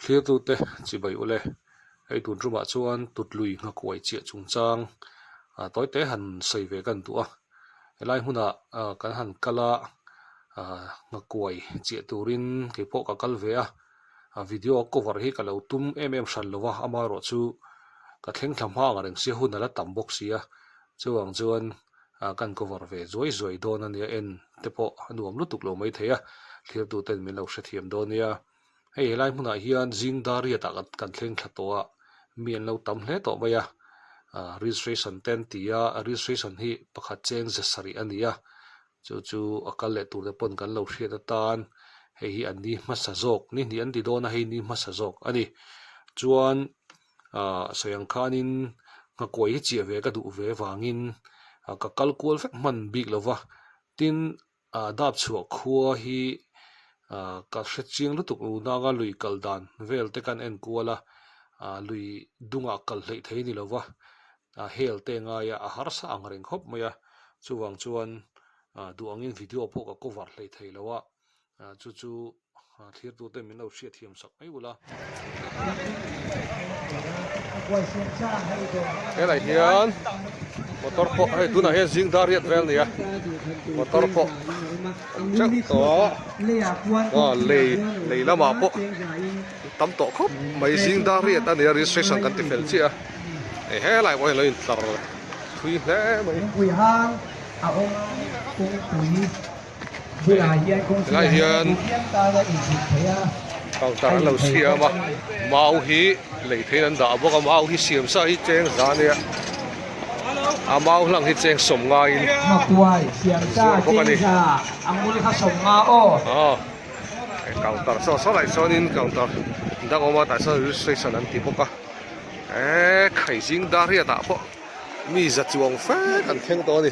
Thirtute chibai ule, hei tun tumah chuan tutlui nghakuai chiah chungchang tawi te han sawi ve kan duh a, helai hunah kan han kal a nghakuai chiah turin keipawh ka kal ve a, video cover hi ka lo tum em em hran lo va, amaherawhchu ka thleng thla hma anga rengsia hun a la tam bawk sia, chuvang chuan ah kan cover ve zuai zuai dawn ania en te pawh a nuam lutuk lo mai thei a thlir tu ten min lo hre thiam dawn nia hei he lai hmunah hian zing dar riat ah kan thleng thla tawh a mi an lo tam hle tawh mai a ah registration te an ti a a registration hi pakhat cheng ze sarih a ni a chu chu a kal leh tur te pawn kan lo hriat atan hei hi an ni hmasa zawk ni hnih an ti dawn a hei ni hmasa zawk a ni chuan. Aah sawi ang khanin nghakuai hi chiah ve ka duh ve vangin ka kal kual vek hman bik lo va, tin aah dap chhuah khua hi aah ka hre chiang lutuk lo nanga lui kal dan vel te kan en kual a, aah lui dungah kal hleih thei ni lo va, aah hell te ngaia a harsa ang reng khawp mai a, chuvang chuan aah duh angin video pawh ka cover hleih thei lo a. ah chu chu ah thlir tur te min lo hriat thiam sak mai ulh a helai hian motor pawh hei tunah hian zing dar riat vel nia motor pawh chauh tawh a lei lei lamah pawh tam tawh khawp mai zing dar riat a nia registration kan ti fel chiah a helai pawh hian lo intlar thui hle mai Helai hian counter an lo siam a mau hi lei theih in an dah bawk a mau hi siam sa hi cheng za nia a mau hlang hi cheng sawm ngai in an zawrh bawk a ni aw he counter saw saw lah chuan in counter dang awm a tah chuan registration an ti bawk a eee khai zing dar riat ah pawh mi za chuang fek an thleng tawh a ni.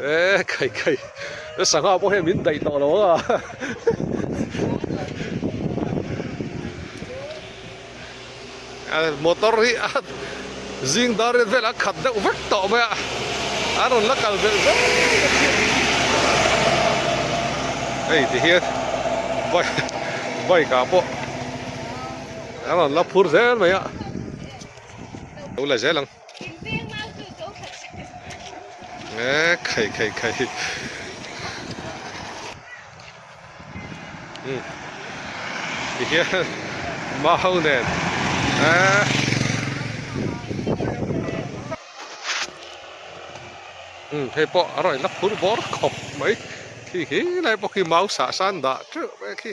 E kai kai e sangha pawh he min daih tawh lo a motor hi a zing dar rin vel a khat deuh vek tawh mai a a rawn la kal zel zel ei ti hian bike bike a pawh a rawn la phur zel mai a lo la zel ang Eee khai khai khai hi Umm Tihian Mau nen Eee Umm hei pawh a rawn in la phur bawr khawp mai Thi hi lai bawk hi mau sah san dah teuh mai khi.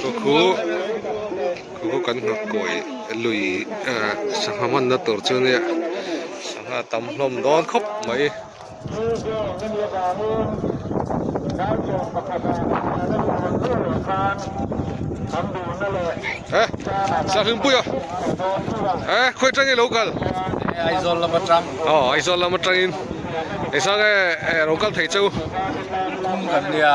Khukhu, khukhu kan ngak kawi lui sangha manna tur chu nia sangha tam hlawm dawn khawp mai. Eh, Sir Hlimpuia, eh, khawi tangin lo kal. Aizawl lam atang. Oh, Aizawl lam atangin. Ei sang e, eh, lo kal thei chu. Kum kan nia.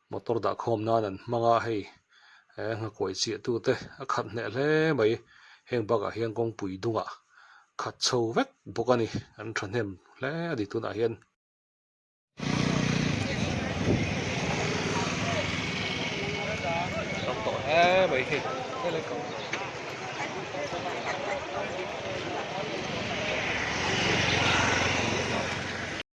Motor dah khawm nan an hmang a hei he nghakuai chiah tu te a khat hneh hle mai, heng bakah hian kawngpui dungah a khat chho vek bawk a ni, an thahnem hle a ni tunah hian.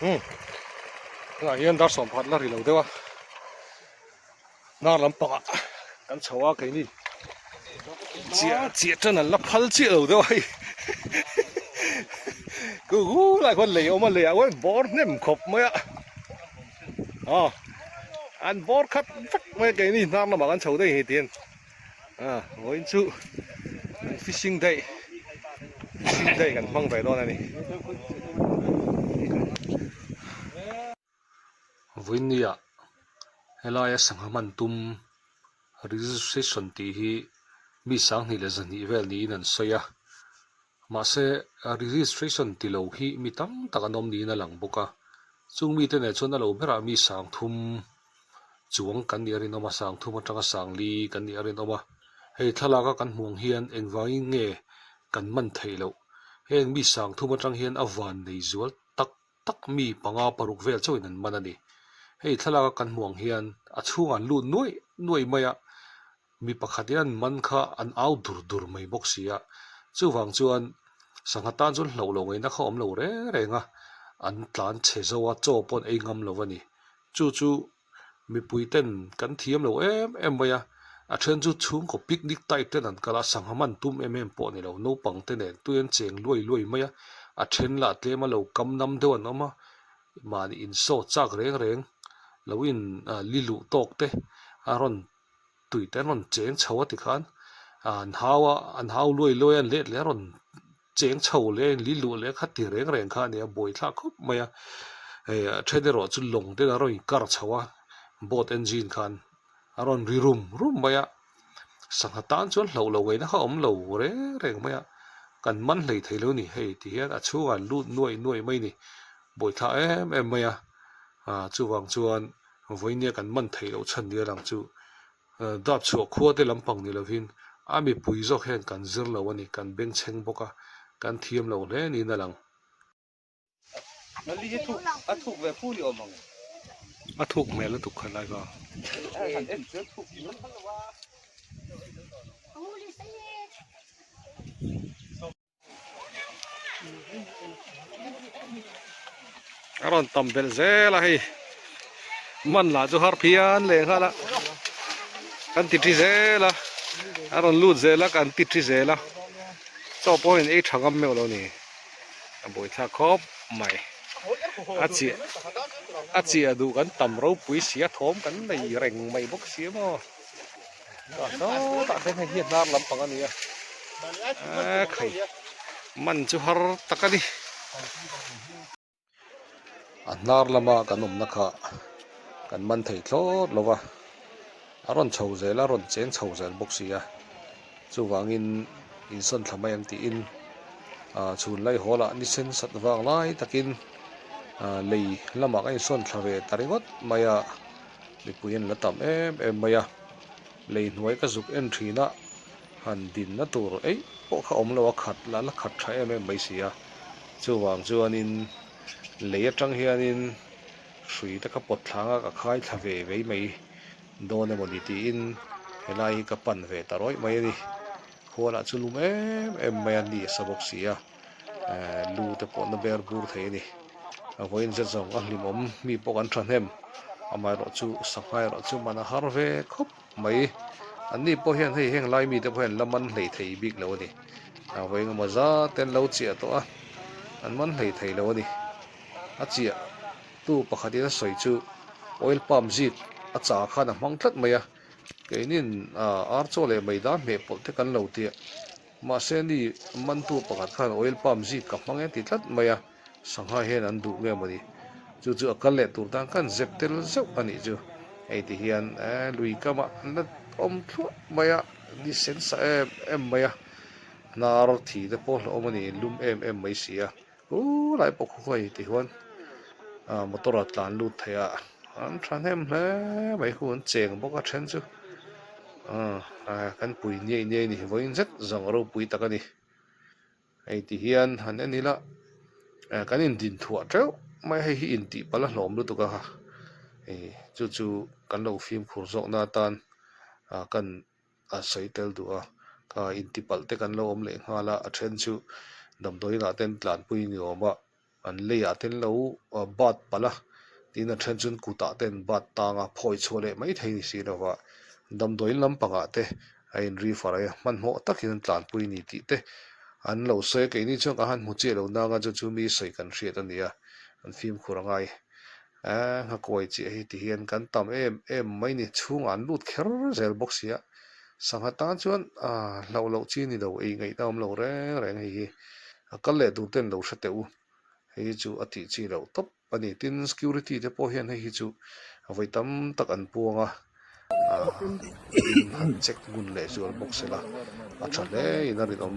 Hmm. Nga hian dar som phat la rilo dewa. Nar lam panga kan chawa kai ni. Chia chia tan la phal chia lo dewa. Ku gu la kon lei oma lei awen bor nem khop mai a. Ah. An bor khat fak mai kai ni nar lam kan chho dei hi tin. Ah vawiin chu fishing day fishing day kan hmang ve dawn a ni Vawinia helaia sangha man tum registration tih hi mi sanghnih leh zahnih vel niin an sawi a. Mahse, registration ti lo hi mi tam tak an awm niin a lang bawk a, chung mite nen chuan a lo berah mi sang thum chuang kan nih a rinawm a, sang thum atanga sang li kan nih a rinawm a, hei thlalak a kan hmuh ang hian engvangin nge kan man theih loh, heng mi sang thum atang hian a van nei zual tak tak mi panga paruk vel chauhin an man a ni, hei thlalak a kan hmuh ang hian a chhungah an lut nuaih nuaih mai a, Mi pakhat hian man kha an au dur dur mai bawk sia, chuvang chuan sangha tan chuan hlauh lo ngaihna kha awm lo reng reng a, an tlan che zo a, chaw paw'n ei ngam lo a ni. Chu chu mipui ten kan thiam lo em em mai a, a then chu chhungkaw picnic type ten an kal a, sangha man tum em em pawh a ni lo, naupang te nen tui an cheng luai luai mai a, a then la a tlem a, lo kam nam deuh an awm a, mahni in saw chak reng reng, lo in li luh tawk te a rawn tui te an rawn cheng chho a tikhan ah an hau a an hau luai luai a an let leh a rawn cheng chho leh a inli luh leh a kha ti reng reng kha a ni a buai thla khawp mai a hei a then erawh chu lawng ten an rawn in kar chho a boat engine khan a rawn ri rum rum mai a sangha tan chuan hloh lo ngaina kha awm lo reng reng mai a kan man hlei thei lo ni hei ti hian a chhunga an lut nuai nuai mai a ni buai thla em em mai a ah chuvang chuan. Vawinia kan man theih loh chhan nia rang chu dap chhuah khua te lampang ni lovin a mipui zawk hian kan zir lo a ni, kan bengchheng bawk a, kan thiam lo hle niin a lang. A thuk hmel lutuk kha lai va. a rawn tam belh zel a hei man lah chu har phian leh nghal a kan ti thi zel a a rawn lut zel a kan ti thi zel a chaw pawh hian ei tha ngam meuh lo ni a buaithlak khawp mai a chiah a chiah duh kan tam ropui sia thawm kan nei reng mai bawk si a maw. Ka sawtah hian hei hi a hnar lampang a ni a, a khai man chu har tak a ni. A hnar lama kan awmna kha kan man thei thlawt lo va, a rawn chho zel a rawn cheng chho zel bawk si a, chuvangin insawn thla mai ang tiin chhun lai hawlah nisen sat vang lai takin lei lamah ka insawn thla ve ta ringawt mai a. Mipui an la tam em em mai a, lei hnuai ka zuk en thin a, han dinna tur eih pawh kha awm lo a, khat la la khat tha em em mai si a, chuvang chuanin lei atang hianin hrui te kha pawt thlanga ka khai thla ve vei mai dawn emaw ni tiin helai hi ka pan ve ta rawih mai a ni, khualah chu lum em em mai a ni sa bawk si a. lu te pawh na ber bur thei a ni a vawiin zet zawng a hlim awm mi pawh kan thahnem amaherawh chu sangha erawh chu man a har ve khawp mai an ni pawh hian hei heng lai mi te pawh hian la man hlei thei bik lo a ni a vawing amaw zat ten lo chiah tawh a an man hlei thei lo a ni a chiah tu pakhat in a sawi chu oil pump zit a cha khan a hmang tlat mai a keinin ar chaw leh mai dar hmeh pawlh te kan lo tia. Mahse ni mantu pakhat khan oil pump zip ka hmang e ti tlat mai a, sangha hian an duh ngei mawni. Chu chu a kal leh tur tan khan zep tel zeuh a nih chu. Hei ti hian eeh lui kama na awm thluah mai a, ni sen sa em em mai a, hnar thite pawh hlauhawm a ni, lum em em mai si a. Hu lai pawh khawkhawi ti huan motor a tlan lut theih a an thahnem hle mai khu an cheng bawk a then chu aaa kan pui niai niai ni vawiin zet zawng a ropui tak a ni hei ti hian han en ila kan in din thuah teuh mai hei hi in tih pala hlawm lutuk a ha chu chu kan lo fimkhur zawkna atan kan a sawi tel duh a, kha intipalh te kan lo awm leh nghal a, a then chu damdawiinah ten tlanpui ni awm a, an leiah ten lo bat palh a, tin a then chuan kutah ten bat tang a, phawi chhuah leh mai thei ni si lo va, damdawiin lampangah te a inri far a, hmanhmawh takin an tlanpui ni tih te an lo sawi a, keini chuan ka han hmu chiah lo nang a, chu chu mi sawi kan hriat a nia, an fimkhur a ngai. A nghakuai chiah hi ti hian kan tam em em mai ni, chhungah an lut kher zel bawk sia. Sangha tan chuan, Aaa, hlauh loh chi ni lo, ei ngaihna awm lo reng reng hei hi, a kal leh dunte ni lo hre teh u, hei hi chu a tih chi loh tawp a ni. Tin, security te pawh hian hei hi chu vawi tam tak an puang a. han check ngun leh zual bawk sila a tha hle in a rin awm.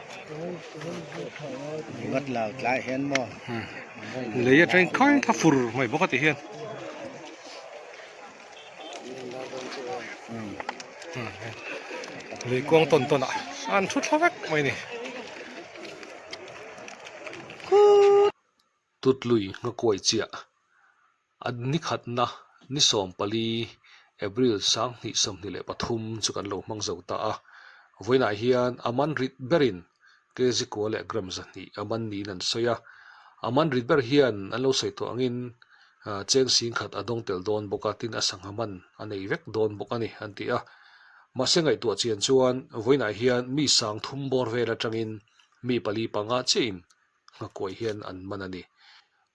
lei a tleng khai kha fur mai bawk a ti hian lei kuang tawn tawn a a an thu thla vek mai a ni tut lui ngakuai chiah. An ni khatna ni sawm pali April sang hnih sawmhnih leh pathum chu kan lo hmang zo ta a, vawiinah hian a man rit berin kg kua leh gram zahnih a man niin an sawi a, a man rit ber hian an lo sawi tawh angin cheng sing khat a dawng tel dawn bawk a, tin a sangha man a nei vek dawn bawk a ni, an ti a. Mahse ngaihtuah chian chuan vawiinah hian mi sang thum bawr vel atangin mi pali panga chiahin nghakawih hian an man a ni.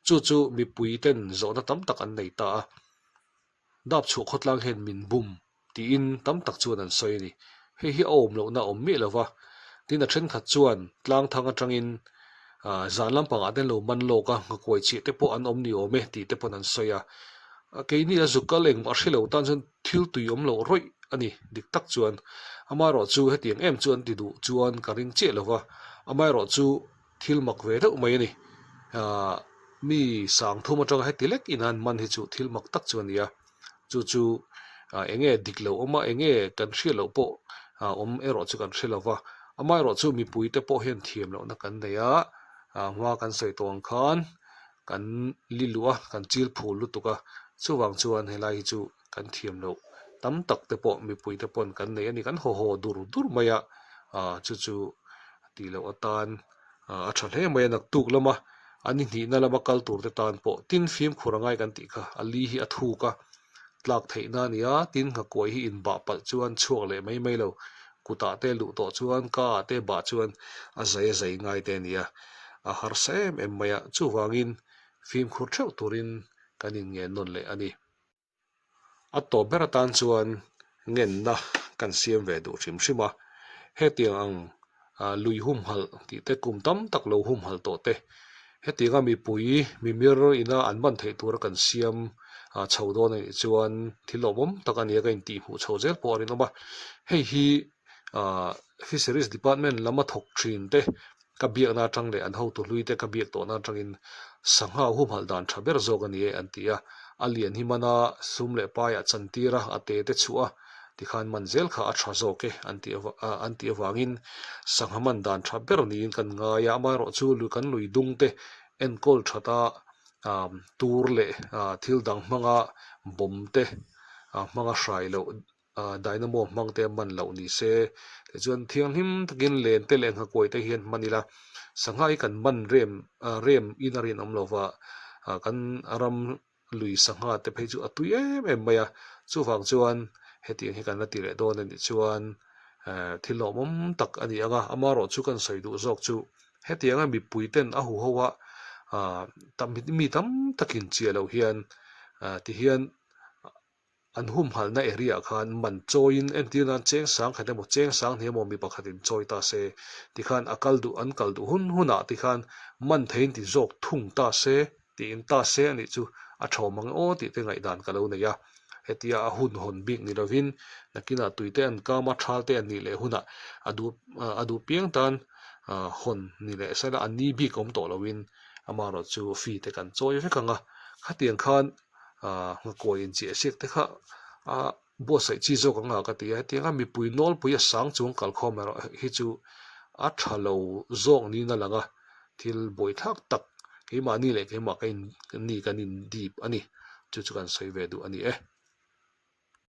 Chu chu mipui ten zawhna tam tak an nei ta a, Dap chhuah khawtlang hian min bum tiin tam tak chuan an sawi a ni. Hei hi a awm lohna a awm miah lo va, tin a thenkhat chuan tlangthang atangin zan lampangah ten lo man lawk a, nghakawih chih te pawh an awm ni awm e tih te pawn an sawi a. Keini a zuk kal engmah a hre lo tan chuan Thil tui awm lo rawih a ni dik tak chuan amaherawh chu hetiang em chu an ti duh chuan ka ring chiah lo va, amaherawh chu thil mak ve deuh mai a ni. Aah mi sang thum atanga heti lek ina an man hi chu thil mak tak chu a ni a, chu chu eng nge dik lo awm a, eng nge kan hriat loh pawh awm erawh chu kan hre lo va, amaherawh chu mipuite pawh hian thiam lohna kan nei a, aah hma kan sawi tawn khan kan li luh a kan chil phul lutuk a chuvang chuan helai hi chu kan thiam loh tam tak te pawh mipui te pawn kan nei a ni kan haw haw dur dur mai a ah chu chu ti loh atan ah a tha hle mai a naktuk lama an inhnihna lama kal tur te tan pawh tin fimkhur angai kan tih kha a li hi a thuk a. tlak theihna a nia, tin nghakuai hi inbah palh chuan chhuak leh mai mai lo, kutah te luh tawh chuan kaa te bah chuan a zai a zai ngai te a nia, a harsa em em mai a, chuvangin fimkhur theuh turin kan inngen nawn leh a ni. A tawp ber atan chuan ngenna kan siam ve duh hrim hrim a, hetiang ang lui humhalh tih te kum tam tak lo humhalh tawh te, hetiang a mipui mimir ina an man theih tur a kan siam chho dawn anih chuan thil awmawm tak a nia ka intih hmuh chho zel pawh a rinawm a, hei hi Fisheries Department lama thawk thin te ka biakna atang leh an hotu hlui te ka biak tawhna atangin sangha a humhalh dan tha ber zawk a ni e, an ti a. A lian hi man a sum leh pai ah chan tir a, a te te chuh a, tikhan man zel kha a tha zawk e, an tih an tih avangin sangha man dan tha ber niin kan ngai a, amaherawh chu kan lui dung te enkawl that a, tur leh thil dang hmanga bomb te hmanga hrai loh. Ahh Dynamo hmang te a man loh ni se, tichuan thianghlim takin len te leh nghakuai te hian hman ila sangha hi kan man rem rem in a rinawm lova kan ram lui sangha te phei chu a tui em em mai a, chuvang chuan hetiang hi kan la ti leh dawn a nih chuan thil lawmawm tak a ni ang a, ama erawh chu kan sawi duh zawk chu hetiang a mipui ten a huho a ahh mi tam takin chiah loh hian tihian An humhalhna area khan man chawiin entir nan cheng sangkhat emaw cheng sanghnih emaw mi pakhatin chawi ta se tikhan a kal duh an kal duh hun hun ah tikhan man theiin ti zawk thung ta se tiin ta se a nih chu a thawm ang aw tih te ngaihdan ka lo nei a. Hetia a hun hawn bik ni lovin nakinah tui te an kama thal te an nih leh hunah a duh a duh piang tan hawn ni leh sela an ni bik awm tawh lovin amaherawhchu fee te kan chawi vek ang a khatiang khan ah ngakawih in cheh siak te khah a buatsaih chi zawk ang a ka ti a hetiang a mipui nawlpui a sang chuang kal khawm erawh hi chu a tha lo zawk niin a lang a thil bawi thlak tak keimahni leh keimah ka in ni kan in dip a ni chu chu kan sawi ve duh a ni e.